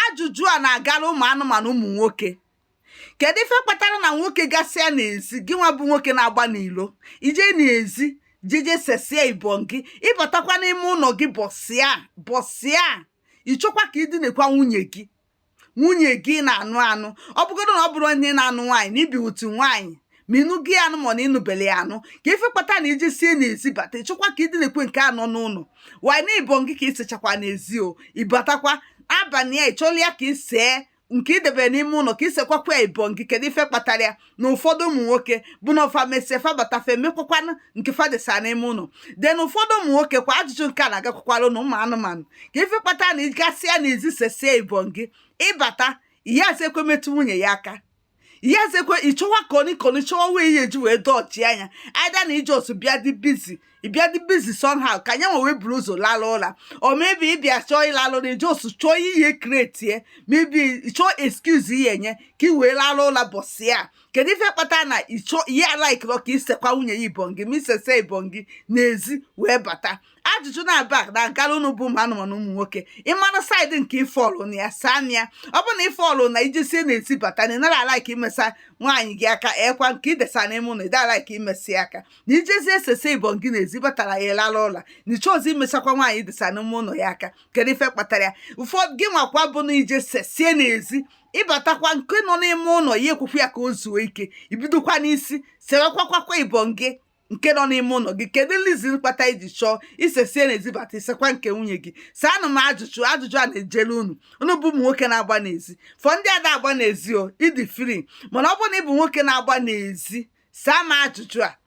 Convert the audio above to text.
ajụjụ a na-agara ụmụ anụmanụ ụmụ nwoke kedu ife kpatara na nwoke gasịa n'ezi gị nwa bụ nwoke na-agba n'ilo ije n'ezi jeje sesie ibongi ịbatakwa n'ime ụnọ gị bọsị a bọsị a ịchọkwa ka ịdịnekwa nwunye gị nwunye gị na-anụ anụ ọ bụgodo na ọ bụrọ onye na-anụ nwaanyị na ibi with nwaanyị ma ịnụgo ya anụ ma na ịnụbele ya anụ kee ife kpata na ijesie n'ezi bata ịchọkwa ka ịdịnekwa nke nọ n'ụnọ nwaanyị na ibongi ka isechakwa n'ezi o ịbatakwa abalị ya ịchọla ya ka isee nke idebere n'ime ụnọ ka isekwakwa ya ibongi kedu ife kpatara ya na ụfọdụ ụmụ nwoke bụ na ọ fa mesie fa bata fa emekwakwana nke fa desa n'ime ụnọ then ụfọdụ ụmụ nwoke kwa ajụjụ nke a na-agakwakwara unu ụmụ anụmanụ kee ife kpatara na ịgasịa n'ezi sesie ibongi ịbata ị yazị ekwe metụ nwunye ya aka ị yazị ekwe ịchọwa cunny cunny chọwa way ị ya-eji wee dodge nya either na ị just bịa dị busy ịbịa dị busy somehow ka nya nwa wee buru ụzọ lalụ ụla or maybe ịbịa chọọ ịlalụ na ị just chọọ ihe create maybe chọọ excuse ị ya-enye ka ị wee lalụ ụla bọsị ya kedu ife kpata na ịchọ ị ya alike ka isekwa nwunye ya ibongi ma isesie ibongi n'ezi wee bata ajụjụ naabọ a na-agara unu bụ ụmụ anụmanụ ụmụ nwoke ịmara side nke ị fall na ya saa nya ọ bụ na ị fall na ijesie n'ezi bata na ịnara alike imesa nwaanyị gị aka ekwa nke idesa n'ime ụnọ ịda alike imesa ya aka na ijesie sesie ibongi n'ezi batara ya ịlara ụla na ịchọrọzị imesakwa nwaanyị idesa n'ime ụnọ ya aka kedu ife kpatara ya ụfọdụ gị nwakwa bụ na ije sesie n'ezi ịbatakwa nke nọ n'ime ụnọ ị ya ekwekwa ya ka o zuo ike ibidokwa n'isi sewekwakwa ibongi nke nọ n'ime ụnọ gị kedu reason kpata iji chọọ isesie n'ezi bata isekwa nke nwunye gị saanụ m ajụjụ ajụjụ a na-ejere unu unu bụ ụmụ nwoke na-agba n'ezi for ndị ada agba n'ezi o ịdị free mana ọ bụrụ na ị bụ nwoke na-agba n'ezi saa m ajụjụ a